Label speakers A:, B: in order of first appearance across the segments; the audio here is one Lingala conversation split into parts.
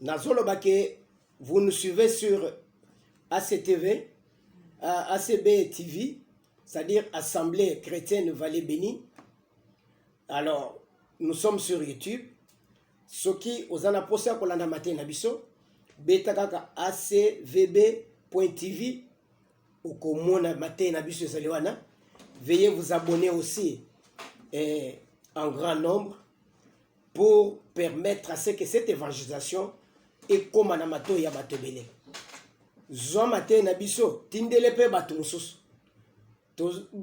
A: nazoloba ke vous nous suivez sur ACTV, euh, ACB TV, c'est-à-dire Assemblée chrétienne Vallée Bénie. Alors, nous sommes sur YouTube. soki oza na mposa ya kolanda matei na biso beta kaka acvb tv okomona matei na biso ezali wana veuillez vous abonner aussi eh, en grand nombre pour permettre à ce que cette évangélisation ekoma na matoi ya bato ebele zwa mateyi na biso tindele mpe bato mosusu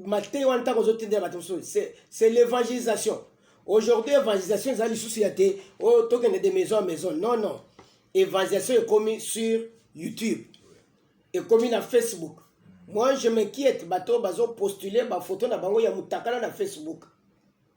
A: mateyi wana ntango ozotindela bato mosusu c'est l'évangélisation aujourd'hui évangélisation eza lisusu ya te oyo oh, tokende de maison à maison non non évangélisation ekomi sur youtube ekomi na facebook moi je m'inquiète bato bazopostule bafoto na bango ya motakala na facebook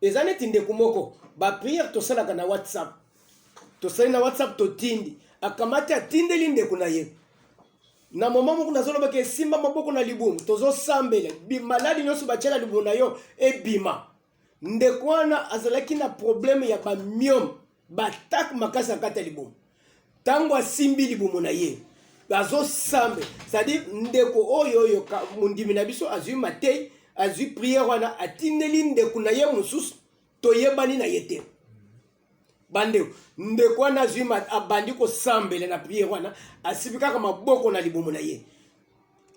A: eza neti ndeko moko ba prière tosalaka na whatsapp tosali na whatsapp totindi akamati atindeli ndeko na ye na moma moko nazolobaka esimba maboko na libumu tozosambela maladi nyonso batyela libumu na yo ebima ndeko wana azalaki na probleme ya bamiome Batak makasi akata libumu ntango asimbi libumu na ye azosambe cestadire ndeko oyo oyo mondimi na biso azwi matei azwi priere wana atindeli ndeko na ye mosusu toyebani na ye te bandeko ndeko wana azwi abandi kosambela na priere wana asibi kaka maboko na libumu na ye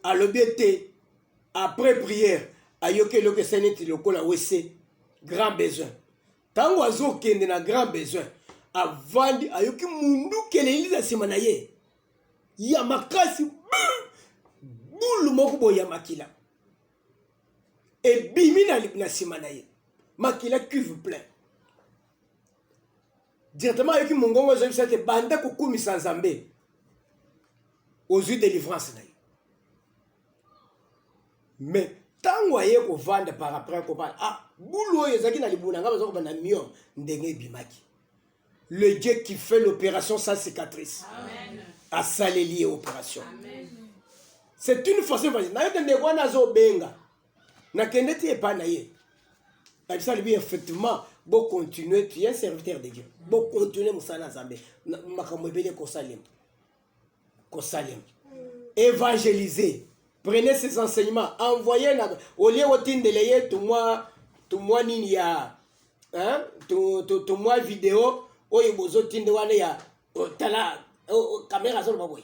A: alobi ete après priere ayoki eloko eseneti lokola wese grand besoin ntango azokende na grand besoin avandi ayoki munduki eleli na nsima na ye ya makasi bulu moko boye ya makila ebimi na nsima na ye makila cuve plein directement ayoki mongongo ezalisa ete banda kokumisa nzambe ozwi delivrance na ye mais ntango aye kovanda par après kobala ah bulu oyo ezalaki na libuna ngai baza kobanda mio ndenge ebimaki le dieu qui fait l'opération sans cicatrice asaleli ye opération c'est une façon facile nayoka ndeko wana azobenga nakende ti epai na ye nabisa libi effectivement bocontinue tu ye serviteur de dieu bocontinue mosala na nzambe makambo ebele ekosalema kosalema évangéliser prenez ces enseignements envoyez na olie otindele ye tumwa tumwa nini ya hein? to, to, to mwa video oyo bozotinde wana ya oh, tala oh, oh, kamera azoloba boye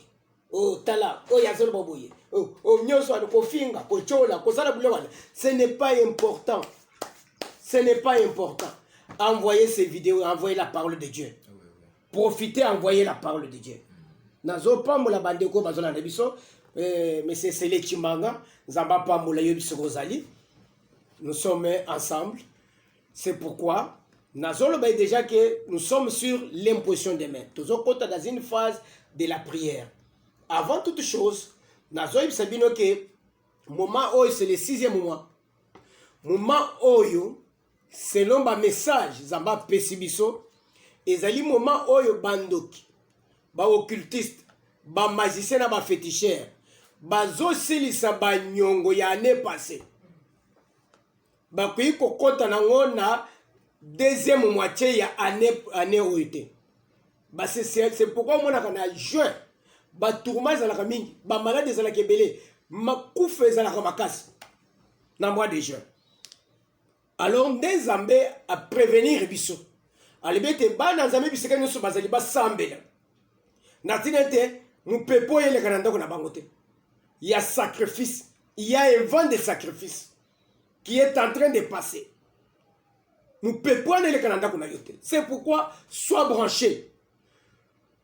A: oh, tala oyo azoloba boye oh, oh, nyonso wana kofinga kotyola kosala bilo wana ce n'est pas important ce n'est pas important envoyez ces vidéos envoyez la parole de dieu profiter envoyer la parole de Dieu nazopambola bandeko oyo bazolanda biso eh, monsieur sele chimanga nzambe apambola yo biso kozali nous sommes ensemble c'est pourquoi nazoloba ye déjà que nous sommes sur l'imposition des mains tozokota dans une phase de la prière avant toute chose nazoyebisa bino ke moment oyo c'est le sixième mois moment oyo selon ba message nzambe apesi biso ezali moment oyo bandoki baoccultiste bamagicien na bafeticheur bazosilisa banyongo ya année passé bakoki kokɔta nango na deuxième moitié ya année, année oyo te c'est pourquoi omonaka na juin batourma ezalaka mingi bamalade ezalaka ebele makufa ezalaka makasi na mois de juin alors nde nzambe aprevenir biso alobi ete bana nzambe bisika nyonso bazali basambela na ntina ete mopepe oyo eleka na ndako na bango te ya sacrifice ya event de sacrifice qui est en train de passer mopepe wana eleka na ndako na yo te c'est pourquoi soit branché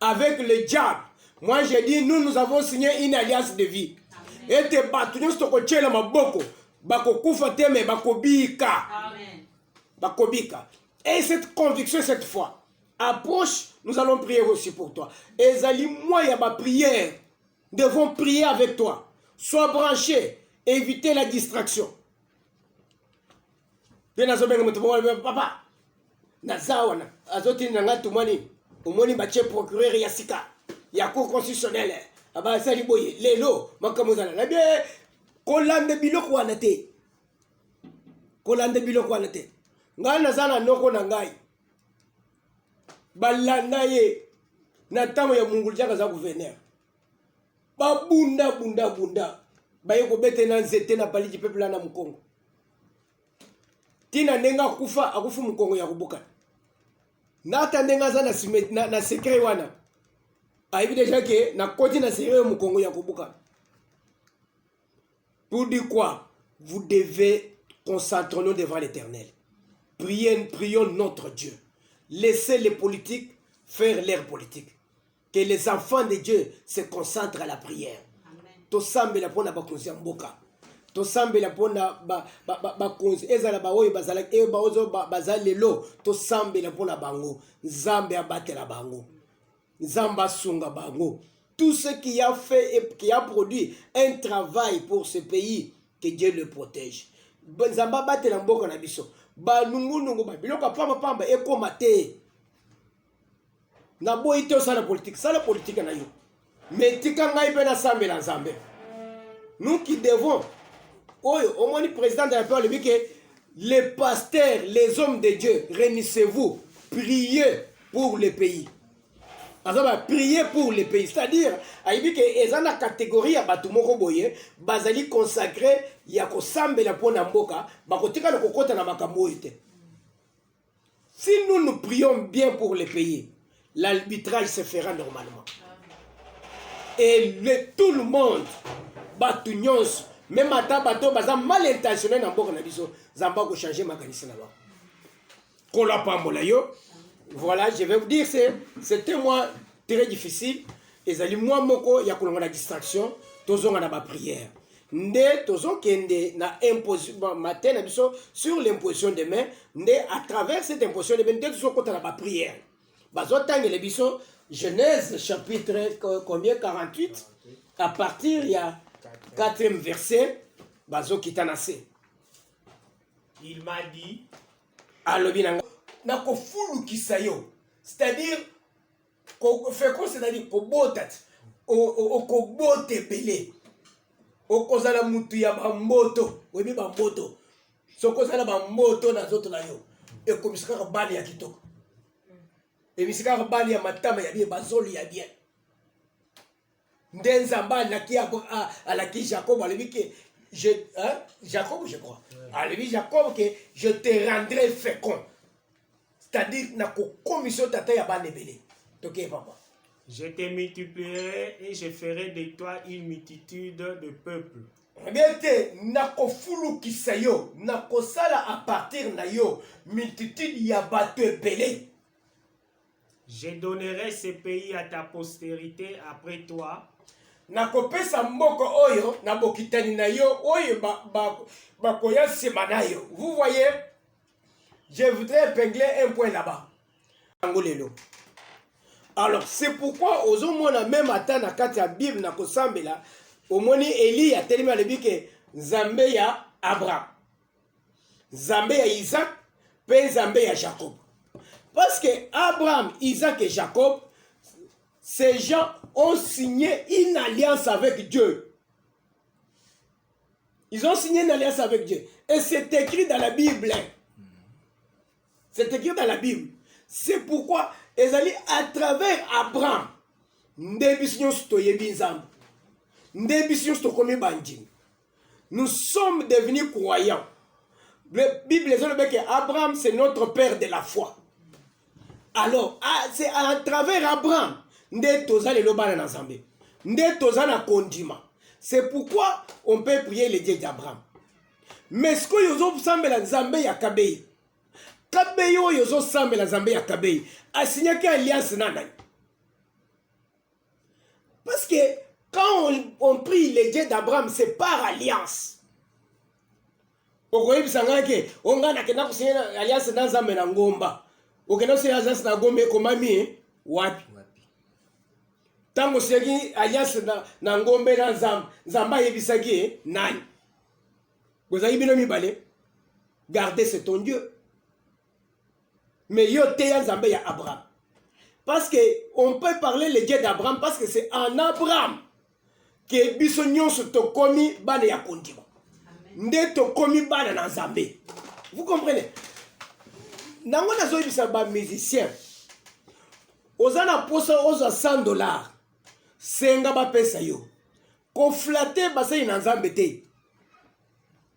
A: avec le diable moi je dis nous nous avons signé une alliance de vie ete bato nyonso tokotyela maboko bakokufa te me bakobika bakobika et cette conviction cette fois approche nous allons prier aussi pour toi ezali moi ya baprière devons prier avec toi sois branché éviter la distraction mpe nazobenga moto moko alobi papa naza wana azotinda ngai tumani omoni batye procureur ya sika ya cour constitutionnelle abasali boye lelo makambo ezala na bie kolanda biloko wana te kolanda biloko wana te ngai naza na noko na ngai balanda ye na ntango ya mungulu jaka aza guverner babunda bunda bunda baye kobete na nzete na baliki pepela na mokongo ntina ndenge akufa akufi mokongo ya kobukana nata ndenge aza na, na, na secret wana ayebi deja ke nakoti na secret mokongo ya kobukana pour dire quoi vous devez concentrons-nous devant l'éternel prions, prions notre dieu laissez les politiques faire leur politique que les enfants de Dieu se concentrent à la prière. tosambela mpo na bakonzi ya mboka tosambela mpo na bakonzi ezala baoyo eh, baza lelo tosambela mpo na bango nzambe abatela bango nzambe asunga bango tout ce qui a fait et qui a produit un travail pour ce pays que dieu le protège nzambe abatela mboka na biso banungunungu babiloko ya pambapamba ekóma te naboyi te osala politike sala politike na yo me tika ngai mpe nasambela nzambe nous qui devons oyo omoni président de la paix alobi ke les pasteurs les hommes de dieu réunissez-vous priez pour le pays aza bapriye pour le pays c'est-à-dire ayebi ke eza na kategorie ya bato moko boye bazali consacre ya kosambela mpo na mboka bakotikala kokɔta na makambo oyo te Si nous nous prions bien pour le pays, l'arbitrage se fera normalement. Et le, tout le monde, bato nyonso, même ata bato baza mal intentionné na mboka na biso, zamba ko changer makanisi na bango. Kola pambola yo. Voilà, je vais vous dire c'est c'est un mois très difficile. Ezali mois moko ya kolonga na distraction, tozonga na ba prière. nde tozokende na imposition matin na biso sur l'imposition de main nde à travers cette imposition de main nde tozokota na baprière bazotangele biso genèse chapitre combien 48 à partir ya 4e verset bazokita na se
B: il m'a dit alobi na
A: nga nakofulukisa yo c'est-à-dire féconce ezali kobota ti okobota ebele okozala mutu ya bamboto oyebi bamboto soki oza na bamboto na nzoto na yo ekomisi kaka bale ya kitoko emisi kaka bale ya matama ya bien bazoli ya bien nde nzambe alaki alaki jacob alobi ke je, hein, jacob je crois alobi jacob ke je te rendrai fécond c'est-à-dire nakokomisa yo tata ya bana ebele tokeye papa je te
B: multiplierai et je ferai de toi une multitude de peuples bien te
A: nakofulukisa yo nakosala a partir na yo multitude ya bato ebele Je
B: donnerai ce pays à ta posterite après toi. Nakopesa
A: mboka oyo na bokitani na yo oyo bakoya nsima na yo. Vous voyez, je voudrais épingler un point là-bas. Yango lelo. Alors, c'est pourquoi ozomona même ata na kati ya Bible na kosambela, omoni Eliya atelemi alobi ke Nzambe ya Abraham. nzambe ya isak mpe nzambe ya jacob parce que abraham isak et jacob ces gens ont signé une alliance avec dieu Ils ont signé une alliance avec Dieu. Et c'est écrit dans la Bible. C'est écrit dans la Bible. C'est pourquoi ils allaient à travers Abraham. Nde biso nyonso toyebi Nzambe. Nde biso nyonso tokomi bandimi. nous sommes devenus croyants. La Bible dit que Abraham, c'est notre père de la foi. Alors, ah, c'est à travers Abraham, nous sommes les lobana na Zambé. Nous sommes na condiment. C'est pourquoi on peut prier les dieux d'Abraham. Mais ce que nous avons semblé la Zambé ya Kabei. Kabei oyo zo semblé la Zambé ya Kabei. A signé alliance na nani? Parce que quand on, on prie le Dieu d'Abraham, c'est par alliance. okoyebisa ngai ke o ngai nakenda kosiye alliance na nzambe na ngomba okenda kosiye alliance na ngomba ekomami eh? wapi ntango osiyaki alliance na, na ngombe na nzambe nzambe ayebisaki ye eh? nani bozalaki bino mibale garde c'est ton dieu Mais yo teya Nzambe ya Abraham. Parce que on peut parler le Dieu d'Abraham parce que c'est en Abraham que biso nyonso tokomi bana ya kondima. Nde tokomi bana na Nzambe. Vous comprenez? Nango nazoyebisa ba musiciens. Oza na posa ozwa 100 dollars. Senga bapesa yo. Koflate basali na Nzambe te.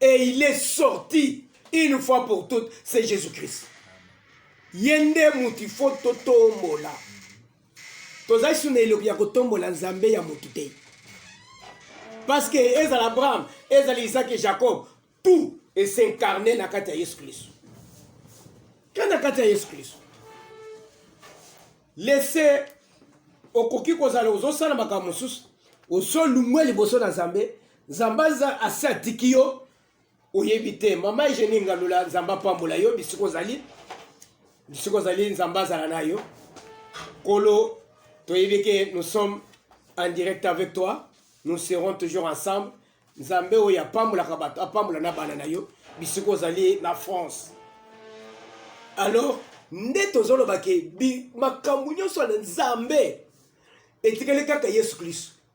A: et il est sorti une fois pour toutes c'est jésus christ ye nde moto ifo totombola tozali suna eloki ya kotombola nzambe ya moto te parce que ezala abraham ezala isaac et jacob tout est s'incarne na kati ya yesu kristo ke na kati ya yesu kristo lese okoki kozala ozosala makambo mosusu ozolungwe liboso na nzambe nzambe aza asi atiki yo oyebi te mama egenie ngalula nzambe apambola yo bisika ozali bisika ozali nzambe azala na yo kolo toyebi ke nous sommes en direct avec toi nous serons toujours ensemble nzambe oyo apambolaka bato apambola na bana na yo bisika ozali na france alors nde tozolobake makambo nyonso na nzambe etikali kaka yesu kristo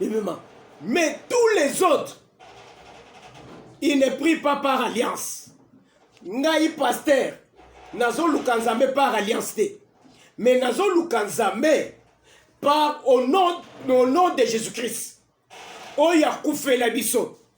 A: ebima mais tous les autres il ne prie pas par alliance ngai pasteur nazoluka nzambe par alliance te mais nazoluka nzambe par au nom, au nom de jésus christ oyo akufela biso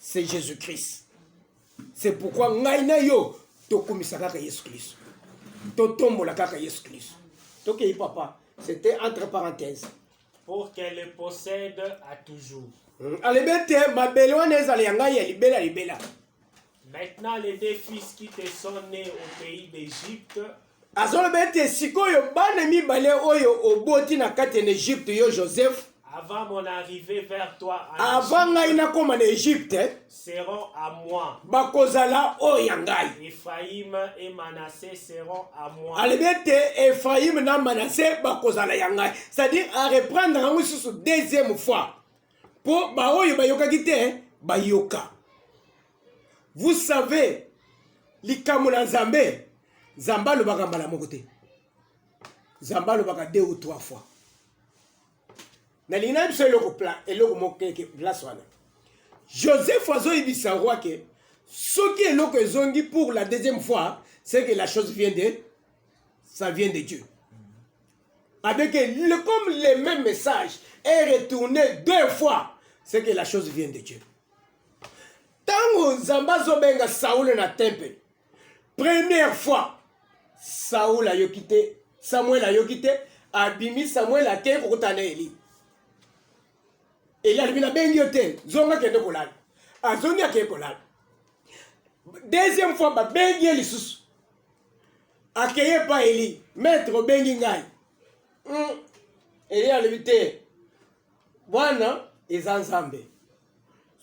A: c'est jésus christ c'est pourquoi ngai na yo tokumisa kaka yesu kristo totombola kaka yesu kristo tokei papa c'était entre parenthèse pour qu'elle
B: le possède à toujours hmm, alobi ete
A: mabele wana ezala ya ngai ya libela libela maintenant
B: les deux fils qui te sont nés au pays d'égypte azoloba ete
A: sikoyo bana mibale oyo oboti na kati ya egypte yo joseph avant mon
B: arrivée vers toi avant ngai nakoma
A: na egypte seront à
B: moi bakozala oyo
A: ya ngai ephraim et
B: manasse seront à moi alobi ete
A: ephraim na manasse bakozala ya ngai c'est-à-dire areprendre yango lisusu deuxième fois mpo baoyo bayokaki te bayoka vous savez likambo na nzambe nzambe alobaka mbala moko te nzambe alobaka deux ou trois fois nalingi na biso eloko eloko moko keke place wana joseph azoyebisa roi ke soki eloko ezongi pour la deuxième fois c'est que la chose vient de ça vient de dieu avec le, comme le même message est retourné deux fois c'est que la chose vient de dieu ntango nzambe azobenga saule na tempele première fois saule ayoki te samuel ayoki te abimi samuel akei kokuta na eli eli alibi nabengi yo te zonga kende kolala azongi akei kolala deuxième fois babengi ye lisusu akei epai eli maître obengi ngai hmm. eli alobi te Bwana eza Nzambe.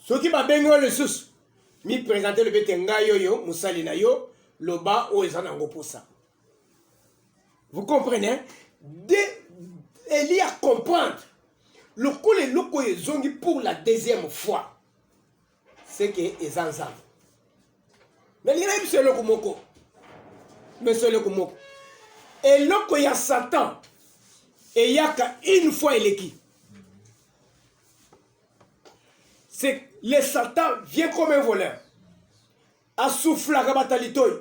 A: Soki babengi yo lisusu, mi presente lobi ete ngai oyo mosali na yo, loba oyo eza nango mposa. Vous comprenez? De Elie a comprendre lokola eloko oyo ezongi pour la deuxième fois. seke eza nzambe nalingi nayebi biso eloko moko biso eloko moko eloko ya satan eyaka une fois eleki c'est le satan vient comme un voleur asuflaka bato ya litoi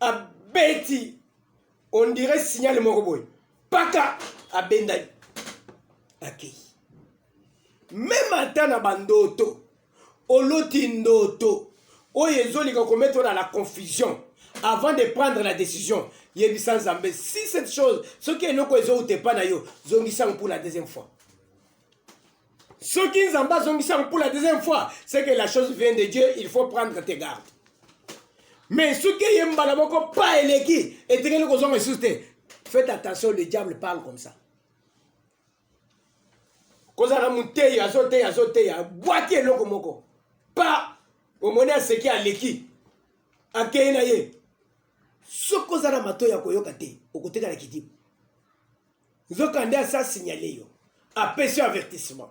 A: abeti on dirait signal moko boye paka abendani akei meme ata na bandoto oloti ndoto oyo ezolika komettre na la confusion avant de prendre la décision yebisa nzambe si cette chose soki eloko ezowuta epa na yo zongisango pour la deuxième fois soki nzambe azongisango pour la deuxième fois c'est que la chose vient de dieu il faut prendre tes gardes mais soki eye mbala moko pa eleki etikeli kozonga lisusu te faites attention le diable parle comme ça kozala moteyi azoteya azoteya abwaki eloko moko pa omoni aseki aleki akei na ye soki oza na mato ya koyoka te okotikala kidibu Nzokande asi a signaler yo. Apesi yo avertissement.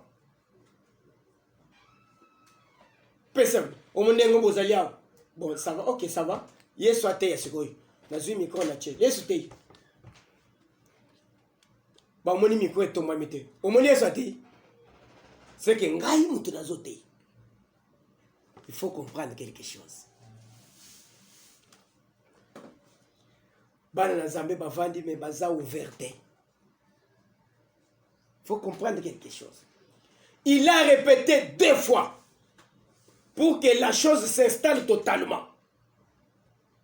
A: Pesa omo ndenge bozali awa. Bon, ça va. OK, ça va. Yesu ateya sikoyo. Nazwi micro na tie. Yesu teyi. Bamoni micro etombami te. Omoni Yesu ateyi. C'est que ngai mutu nazo teyi. Il faut comprendre quelque chose. bana na zambe bavandi me baza ouvert te faut comprendre quelque chose il a répété deux fois pour que la chose s'installe totalement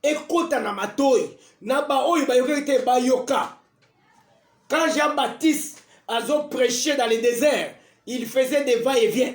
A: ekota na matoi na baoyo bayokaki te bayoka quand jean baptiste azo prêche dans le désert il faisait des va et vient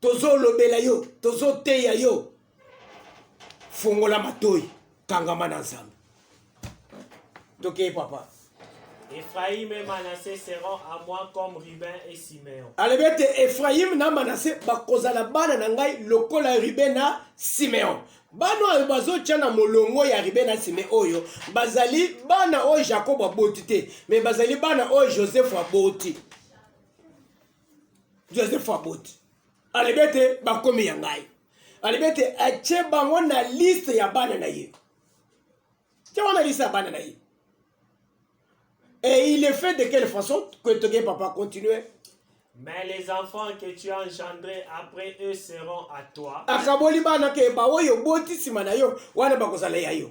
A: tozolobela yo tozoteya yo fongola matoi kangama na nzambe tokei papa Ephraim et
B: Manassé seront à moi comme Ruben et Simeon. alobi ete efraime
A: na manase bakozala bana na ngai lokola ribe na simeon bana oyo bazotya na molongo ya ribe na sime oyo bazali bana oyo jakobo aboti te me bazali bana oyo joseph aboti joseph aboti alobi ete bakomi ya ngai alobi ete atye bango na liste ya bana na ye tye wana liste ya bana na ye et il est fait de quelle façon que toke papa continue Mais les
B: enfants que tu as engendrés après eux seront à toi. akaboli bana ke
A: baoyo oboti nsima na yo wana bakozala ya yo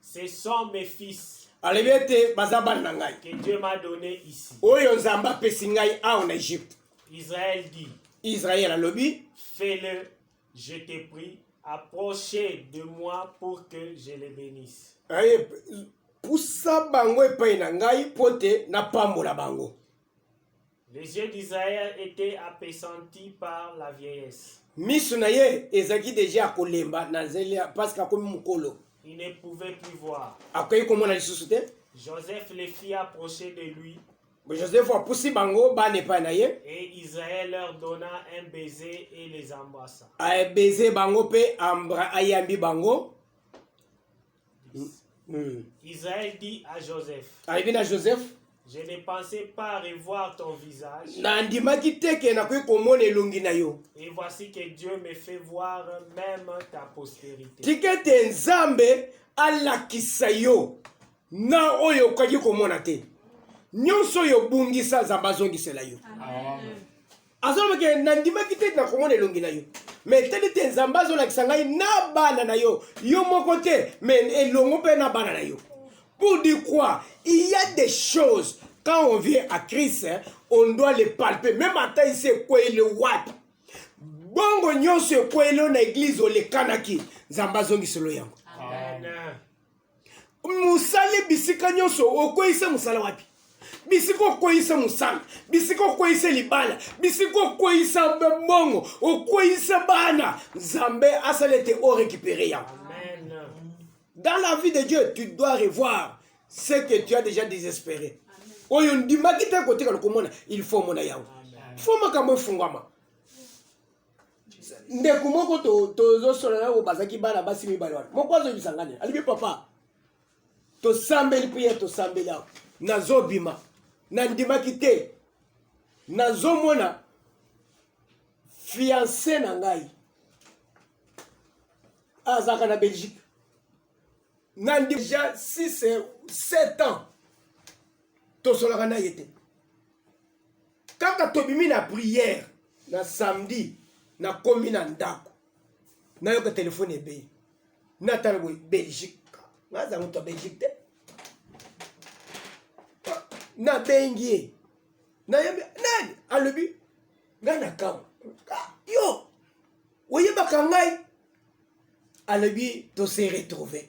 B: Ce sont mes fils. alobi ete baza
A: bana na ngai que Dieu m'a donné
B: ici. oyo nzambe apesi
A: ngai awa na egypte Israël dit,
B: israel alobi
A: fais-le,
B: je te prie, approchez de moi pour que je les bénisse. aye
A: pusa bango epai na ngai mpo te napambola bango Les
B: yeux d'Israël étaient appesantis par la vieillesse. Misu na ye
A: ezaki deja ya kolemba na nzela parce que akomi mukolo. Il ne pouvait
B: plus voir. Akoki komona lisusu
A: te. Joseph les fit
B: approcher de lui. Joseph apusi
A: bango bana epai na ye. Et Israël leur
B: donna un baiser et les embrassa. Baiser
A: bango pe ayambi bango.
B: Mm. Israël dit à Joseph. Alobi na Joseph.
A: Je ne pensais
B: pas revoir ton visage. Nandimaki te ke
A: nakoki komona elongi na yo. Et voici que Dieu
B: me fait voir même ta postérité. Tika ete Nzambe
A: alakisa yo na oyo okaki komona te. Nyonso oyo obungisa Nzambe azongisela yo. Amen. azoloba ke nandimaki te nakomona elongi na yo me etali te nzambe azolakisa ngai na bana na yo yo moko te me elongo mpe na bana na yo pour dire quoi il y a des choses quand on vient à christ on doit les palper même ata isi ekweyile wapi bongo nyonso ekweyile na eglize olekanaki nzambe azongiselo yango Amen.
B: mosali
A: bisika nyonso okweyisa mosala wapi bisika okweyisa mosala bisika okweyisa libala bisika okweyisa bongo okweyisa bana nzambe asala ete orekipere yango
B: dans la
A: vie de dieu tu dois revoir ce que tu as déjà désespéré oyo ndimaki te kotikala komona il faut omona yango fo makambo efungwama ndeko moko tozosolola yango bazalaki bana basi mibale wana moko azoyebisa ngani alibi papa tosambeli priere tosambeli awa nazobima nandimaki te nazomona fianse na ngai azalaka na belgique na deja 6 7 ans tosolaka na ye te kaka tobimi na prière na samedi nakomi na ndako nayoka telefone ebeyi natala boye belgique naza moto ya belgique te nabengi ye nayebi nani alobi ngai na kama ah, yo oyebaka ngai alobi tose retrouve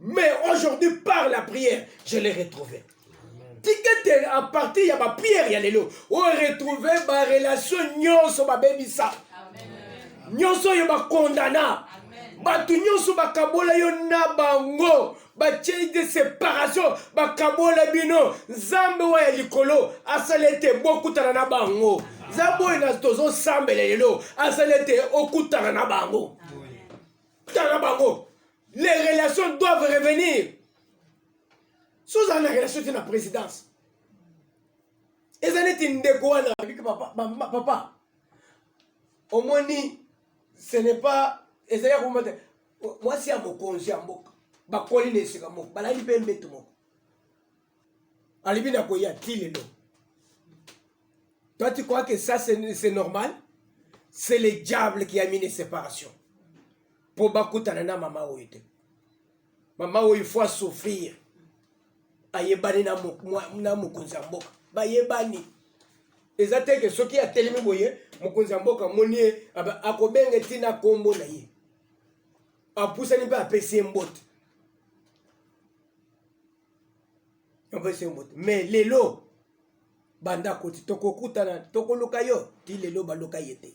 A: mais aujourd'hui par la prière je l'ai retrouvé tikete à partir ya baprière ya lelo oretrouve barelation nyonso babebisa nyonso oyo bakondana bato nyonso bakabola yo na bango batie de séparation bakabola bino nzambe oyo ya likolo asala ete bokutana na bango nzambe oyo na tozosambela lelo asala ete okutana na bango tala bango les relations doivent revenir so ozala na relation te na présidence eza neti ndeko wana abiki papa, papa, papa. omoni ce n'est pas ezali ya komata mwasi ya mokonzi ya mboka bakoli na esika moko balali mpe mbeto moko alibi na koya ti lelo toi tu crois que ça c'est normal c'est le diable qui a mis une séparation mpo bakutana na mama oyo te mama oyo faut asouffrir ayebani na mokonzi ya mboka bayebani eza te ke soki atelemi boye mokonzi ya mboka amoni ye akobenge ntina nkombo na ye apusani mpe apesi ye mbote apesi ye mbote me lelo banda koti tokokutana tokoluka yo ti lelo baluka ye te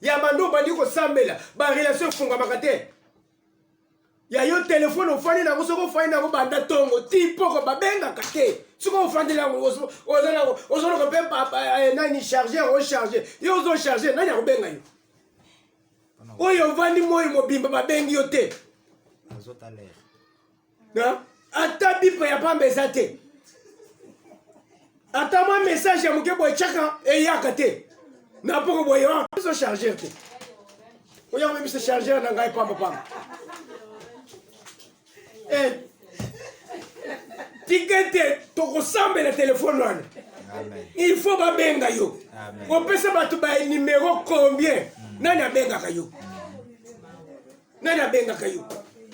A: ya banda obandi kosambela barelation efungamaka te ya yo telefone ofandi nango soki ofandi nango banda ntongo ti mpoko babengaka te soki ofandi nango ozoloka mpe eh, nani charge ocharge yo ozocharge nani akobenga yo oyo ovandi moi mobimba babengi yo te ata bipa ya pamba eza te ata mwa message ya moke boye tyaka eyaka te na mpoko boye wana biso chargeur te oya koyebisa chargeur na ngai pamba pamba eh, tika ete tokosambela telefone wana il faut babenga yo opesa bato banimero combien mm. nani abengaka yo mm. nani abengaka yo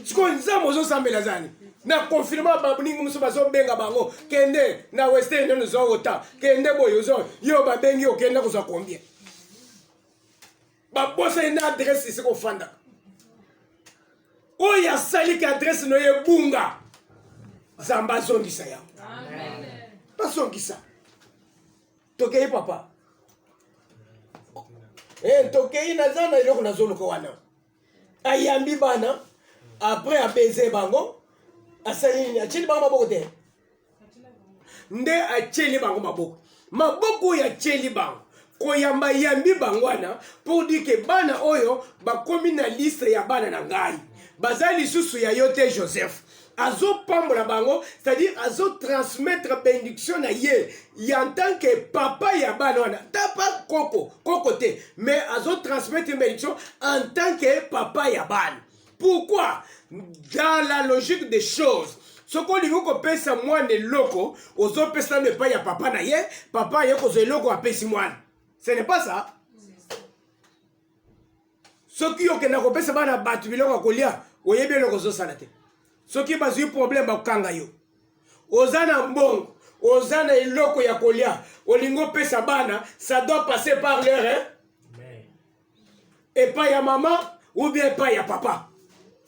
A: sikoyo nzambe ozosambela azani na confirma baningi mosusu bazobenga bango kende na western nde ozwa ota kende boye ozo yo babengi okende kozwa combien babosani na adresse esika ofandaka oyo asaliki adresse no ye bunga zamba azongisa yango bazongisa tokei papa e tokei naza na eloko nazoluka wana ayambi bana après apese bango asali nini atyeli bango maboko te nde atyeli bango maboko maboko oyo atyeli bango koyamba yambi bango wana mpo dike bana oyo bakomi na liste ya bana na ngai baza lisusu ya yo te joseph azopambola bango c'est-à-dire azotransmettre bendiction na ye ya tant que papa ya bana wana tapa koko koko te mais azotransmettre bendiction en tant que papa ya bana pourquoi dans la logique des choses soki olingi kopesa mwana eloko ozopesa nano epai ya papa na ye papa aye kozwa eloko apesi mwana ce n'est pas ça soki okenda kopesa bana bato biloko ya kolia oyebi eloko ozosala te soki bazwi problème bakokanga yo oza na mbongo oza na eloko ya kolia olingi opesa bana ça doit passer par leur epai ya mama ou bien epai ya papa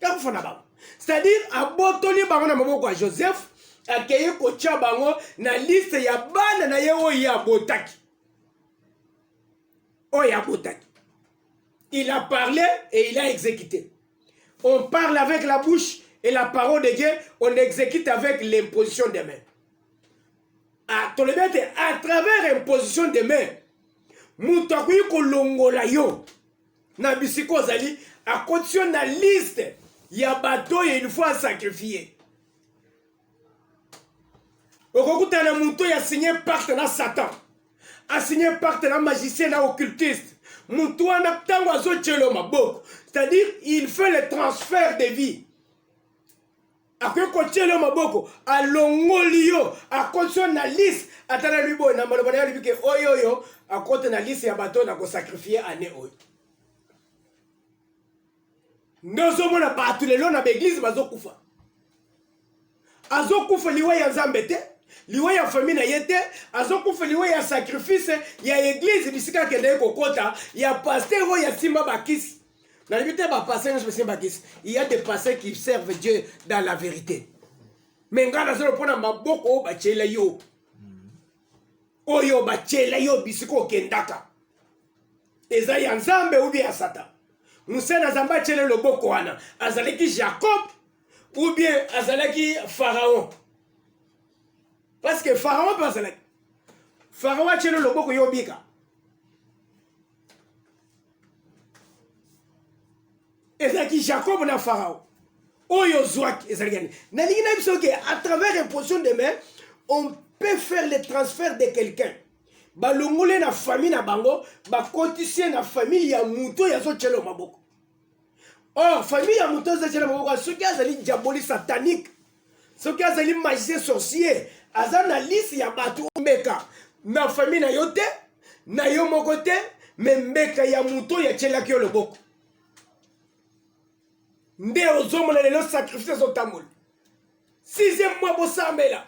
A: ya kufa na bango c'est-à-dire abotoli bango na maboko ya joseph akei kotya bango na liste ya bana na ye oyo ye abotaki oyo abotaki il a parlé et il a exécuté on parle avec la bouche et la parole de dieu on exécute avec l'imposition des mains Ah, tolobi ete à travers imposition des mains moto akoki kolongola yo na bisika ozali akotisi yo na liste ya bato oyo il faut asakrifie okokutana na moto oyo asigne pacte na satan asigne pacte na magicien na occultiste moto wana ntango azotyelo maboko c'est-à-dire il fait le transfert de vie akoki kotyela yo maboko alongoli yo akoti yo na lise ata na liboye na maloba na yo alobi ke oyo oyo akota na lise ya bato na kosakrifie ane oyo nde ozomona bato lelo na baeglize bazokufa azokufa liwa ya nzambe te liwa ya fami na ye te azokufa liwa ya sakrifise ya eglize bisika akendaki kokota ya paster oyo asimba bakisi Na limite ba passé nyo sebe ba kisi. Il y a des passés qui servent Dieu dans la vérité. Mais ngana zelo pona maboko ba chela yo. Oyo ba chela yo bisiko kendaka. Eza ya Nzambe ou bien ya Satan. Musena Zamba chela loboko wana azalaki Jacob ou bien azalaki Pharaon. Parce que Pharaon pe azalaki. Pharaon achela loboko yo bika. ezalaki jacob na farao oyo ozwaki ezalaki yani nalingi na biso ke à travers imposition de main on peut faire le transfert de quelqu'un balongole na famille na bango bakotisi ye na famille ya moto oyo azotyela maboko or famille ya moto ezali na maboko soki azali diaboli satanique soki azali magicien sorcier aza na lisi ya bato omeka na famille na yo te na yo moko te me mbeka ya moto oyo atyelaki yo loboko nde ozomona lelo sacrifice ezotambola sixième mois bosambela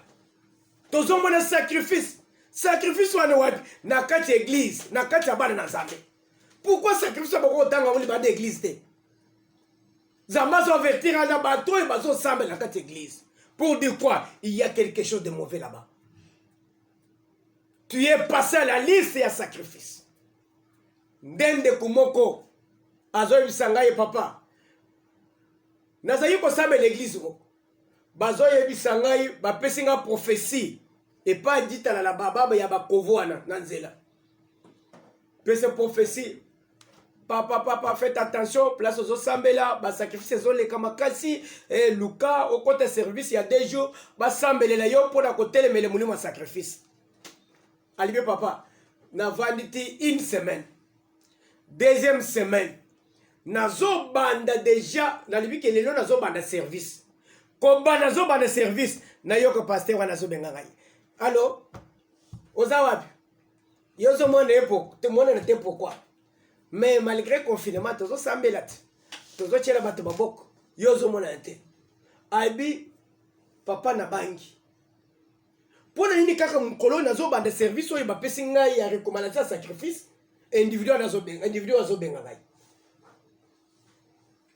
A: tozomona sacrifice sacrifice wana wapi na kati ya eglize na kati ya bana na nzambe pourquoi sacrifice boko kotanga yango libanda eglise te nzambe azoavertir aza bato oyo bazosambela kati eglise pour dire quoi il y a quelque chose de mauvais là-bas tu es passé à la liste ya sacrifice nde ndeko moko azoyebisa ngai papa nazali kosambela eglise moko bazoyebisa ngai bapesi ngai prophesie epai ditala na bababa ya bakovo wana na nzela pese prophesie papa papa faites attention place ozosambela basacrifice ezoleka makasi e luka okota service ya deux jours basambelela yo mpo na kotelemele molimo ya sacrifice alibe papa navandi ti une semaine deuxième semaine nazobanda deja nalobi ke lelo nazobanda service koba nazobanda service nayoka paster wana azobenga ngai alo oza wapi yo ozomona ye tomonana te pourkui mais malgré confinement tozosambela te tozotyela bato baboko yo ozomonana te abi papa na bangi mpo na nini kaka mokolo oyo nazobanda service oyo bapesi ngai ya recommandation ya sacrifice individu wana azobenga individu oyo azobenga ngai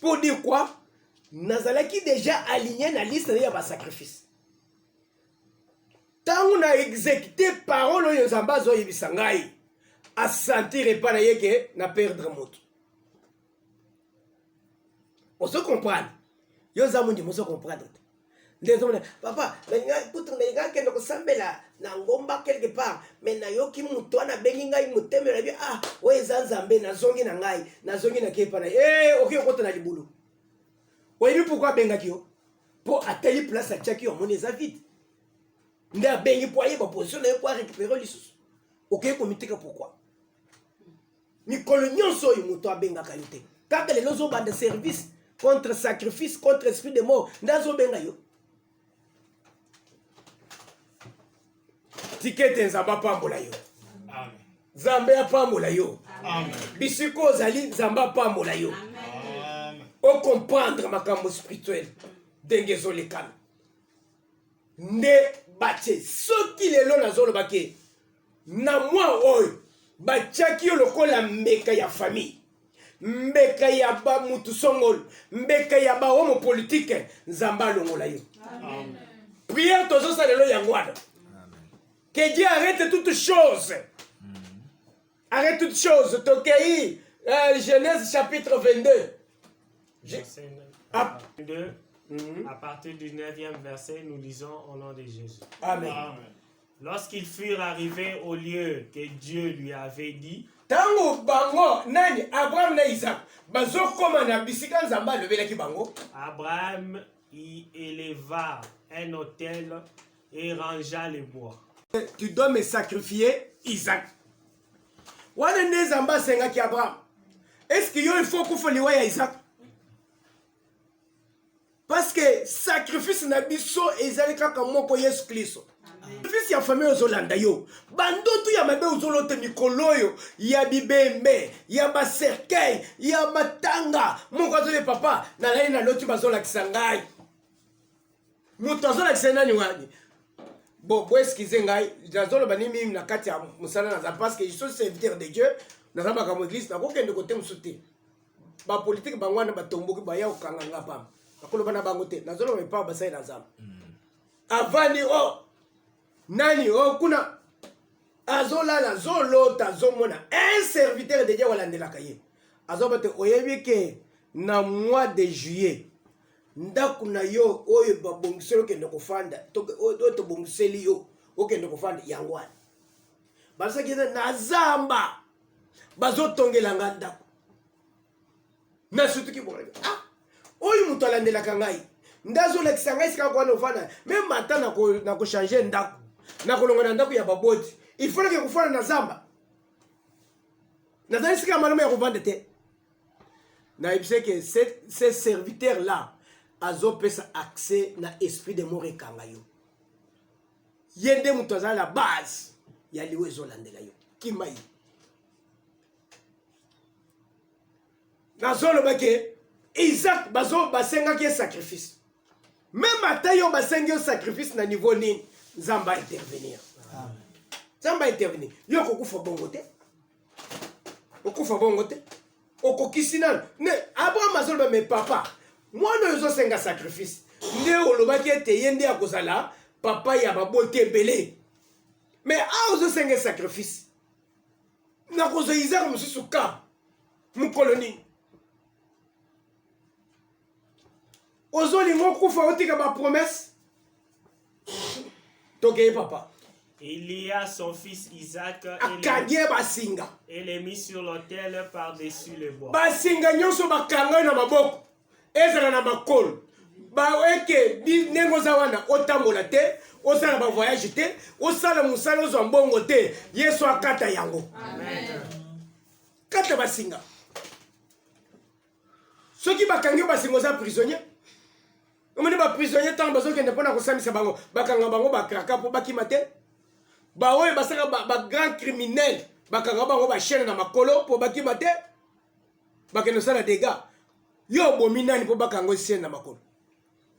A: pour dire quoi nazalaki déjà aligné na liste na ye ya basacrifice ntango na exécute parole oyo nzambe azoyebisa ngai asentir epai na ye ke na perdre moto ozo comprendre yo oza mondimi ozo comprendre te nde ezomona papa kutu nalingaki kende kosambela na ngomba quelque part me nayoki moto wana abengi ngai motema nabi ah oyo eza nzambe nazongi na ngai nazongi na kepa na e okoki okota na libulu oyebi pourkui abengaki yo mpo atali place atiaki yo amoni eza vide nde abengi mpo ayeba position na ye mpo arécupere lisusu okoki komiteka pourkui mikolo nyonso oyo moto abengaka yo te kaka lelo ozobanda service contre sacrifice contre esprit de mort nde azobenga yo tikete nzambe apambola yo
C: nzambe
A: apambola yo bisika
C: ozali
A: nzambe apambola yo
C: okomprendre
A: makambo spirituel ndenge ezolekana nde batie soki lelo nazolobake na mwa oyo batyaki yo lokola mbeka ya famille mbeka ya bamutu songolo mbeka ya bahomo politike nzambe alongola yo
C: priere
A: tozosala lelo yango wana que dieu arrête toute chose mm. arrête toute chose tokei euh, genèse chapitre 22 Je... Ah.
B: 22 mm -hmm. à partir du 9e verset nous lisons au nom de jésus amen, amen.
C: Lorsqu'ils
B: furent arrivés au lieu que Dieu lui avait dit, ntango bango
A: nani abraham na isak bazokoma na bisika nzambe alobelaki bango Abraham
B: y éleva un autel et rangea les bois. tu dois me
A: sacrifier isak wana nde nzambe asengaki abraham eske yo ilfo okufa liwa ya isak parce que sacrifice na biso ezali kaka moko yesu klisto sacrifice ya famille ozolanda yo bandoto ya mabe ozolote mikolo oyo ya bibembe ya bacercueil ya matanga moko azole papa nalali naloti bazolakisa ngai moto azolakisa nani wani bo boeskize ngai nazoloba ni mimi na kati ya mosala naza parce que je suis serviteur de dieu naza makambo eglise nakokende kote mosusu te ba politique bango wana batomboki baya kokanga nga pamba nakoloba na bango te nazoloba epa basali na zamba mm. avandi o oh, nani o oh, kuna azolala azolota azomona un serviteur de dieu walandelaka ye azoba te oyebi ke na mois de juillet ndako na yo oyo babongiseli okende kofanda oyo tobongiseli yo okende kofanda yango wana basaki eza na zamba bazotongela nga ndako nasutuki bolaki ah oyo moto alandelaka ngai nde azolakisa ngai sika kwana ofana me mata na kochange ndako nakolonga na ndako ya baboti ifolaki kofana na zamba nazali sika malamu ya kovanda te nayebisaki ce serviteur là azopesa accès na esprit de mort ekanga yo ye nde moto azali na base ya liwa ezolandela yo kima ye nazoloba ke isak bazo basengaki ye sacrifice meme ata yo basengi yo sacrifice na niveau nini nzambe aintervenir nzambe aintervenir yo kokufa bongo te okufa bongo te okokisi nano me abraham azoloba me papa mwana oyo ozosenga sacrifice nde olobaki ete ye nde akozala papa ya baboti ebele me awa ozosenga sacrifice nakozwa izaka mosusu ka mokolo nini ozolinga okufa otika ba promesse tokei papa Il y a
B: son fils Isaac akangi ye basinga et les mis sur l'autel par-dessus le bois. basinga nyonso
A: bakanga na maboko ezala na makolo baeke ndenge oza wana otambola te osala bavoyage te osala mosala ozwa mbongo te yesu akata yango Amen. kata basinga soki bakangi yo basinga oza prisonnier omoni baprisonnier ntango bazokende mpo na kosambisa bango bakanga bango bakraka mpo bakima te baoyo basaka bagrand ba criminel bakanga bango bachaine na makolo mpo bakima te bakende osala dega yo obomi nani mpo bakanga osiene na makolo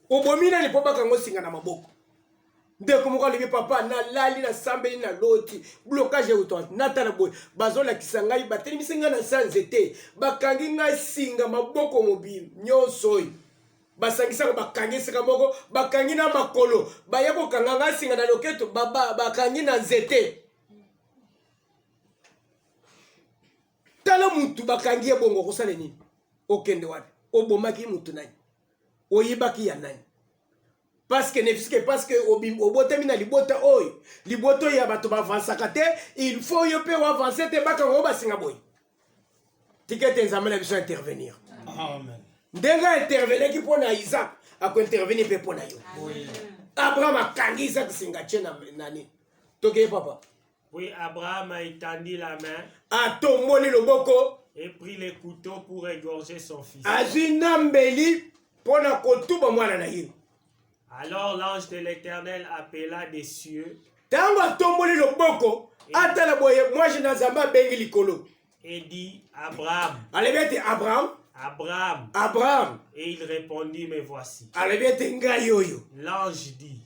A: obomi nani mpo bakanga osinga na maboko ndeko moko alobi papa nalali nasambeli na loti blocage euta natala boye bazolakisa ngai batelemisi ngai na sa nzete bakangi ngai singa maboko mobili nyonso oyo basangisaka bakangi esika moko bakangi na makolo baya kokanga ngai singa na loketo bakangi na nzete tala mutu bakangi ye bongo okosala nini okende wapi obomaki mutu nani oyibaki ya nani paske nefiske paske obotami na libota oyo libota oyo ya bato bavansaka te il faut yo mpe oavanse te bakanga oyo basinga boye tika ete nzambe na biso intervenir ndenge aintervenaki mpo na isak akointervenir mpe mpo na yo abraham akangi isak singa tie na nani tokeye papa Puis Abraham
B: a étendu la main. Atomboli
A: loboko. Et pris le
B: couteau pour égorger son fils. Azui na mbeli
A: mpo na kotuba mwana na ye. Alors
B: l'ange de l'Éternel appela des cieux. Tango atomboli
A: loboko, atala boye mwaje na Nzambe abengi likolo. Et dit
B: Abraham. Alobi ete Abraham.
A: Abraham.
B: Abraham. Et
A: il répondit,
B: me voici. Alobi ete ngai
A: oyo. L'ange dit.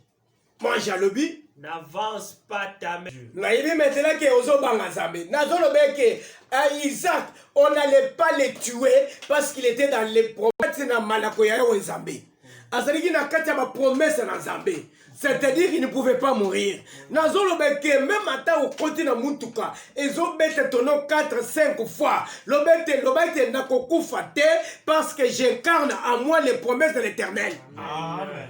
B: Mange alobi
A: n'avance
B: pas ta main. nayebi maintenant ke
A: ozobanga nzambe nazoloba eke euh, isaac on n'allait pas le tuer parce qu'il était dans les promesses na malako ya yawe nzambe azalaki na kati ya bapromese na nzambe c'est-à-dire il ne pouvait pas mourir nazoloba ke meme ata okoti na motuka ezobeta tono 4 5 fois loba ete loba ete nakokufa te parce que j'incarne à moi les promesses de l'éternel amen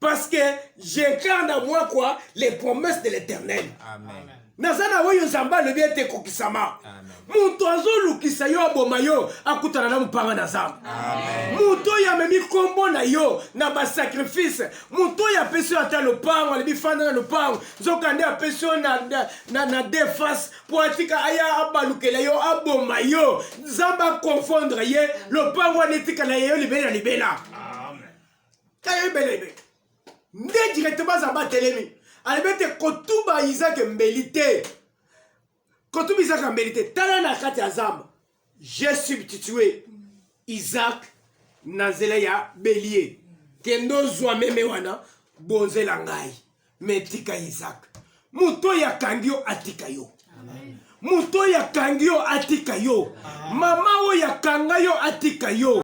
A: parce que j'incarne à moi quoi les promesses de l'éternel amen naza na oyo nzambe alobi ete ekokisama moto azolukisa yo aboma yo akutana na mopanga na zamba moto oyo amemi nkombo na yo na basakrifise moto oyo apesi yo ata lopango alobi fanda na lopango nzokande apesi yo na, na, na, na defase mpo atika aya abalukela yo aboma yo nzambe akonfondre ye lopango wana etikala ye yo libela na libela Amen. kayebelebe nde directement aza batelemi alobi ete kotuba izake mbeli te kotuba izake mbeli te tala na kati ya zamba je subtitue isaac na nzela ya belie kende ozwa meme wana bonzela ngai me tika isaac moto oyo akangi yo atika yo moto oyo akangi yo atika yo mama oyo akanga yo atika yo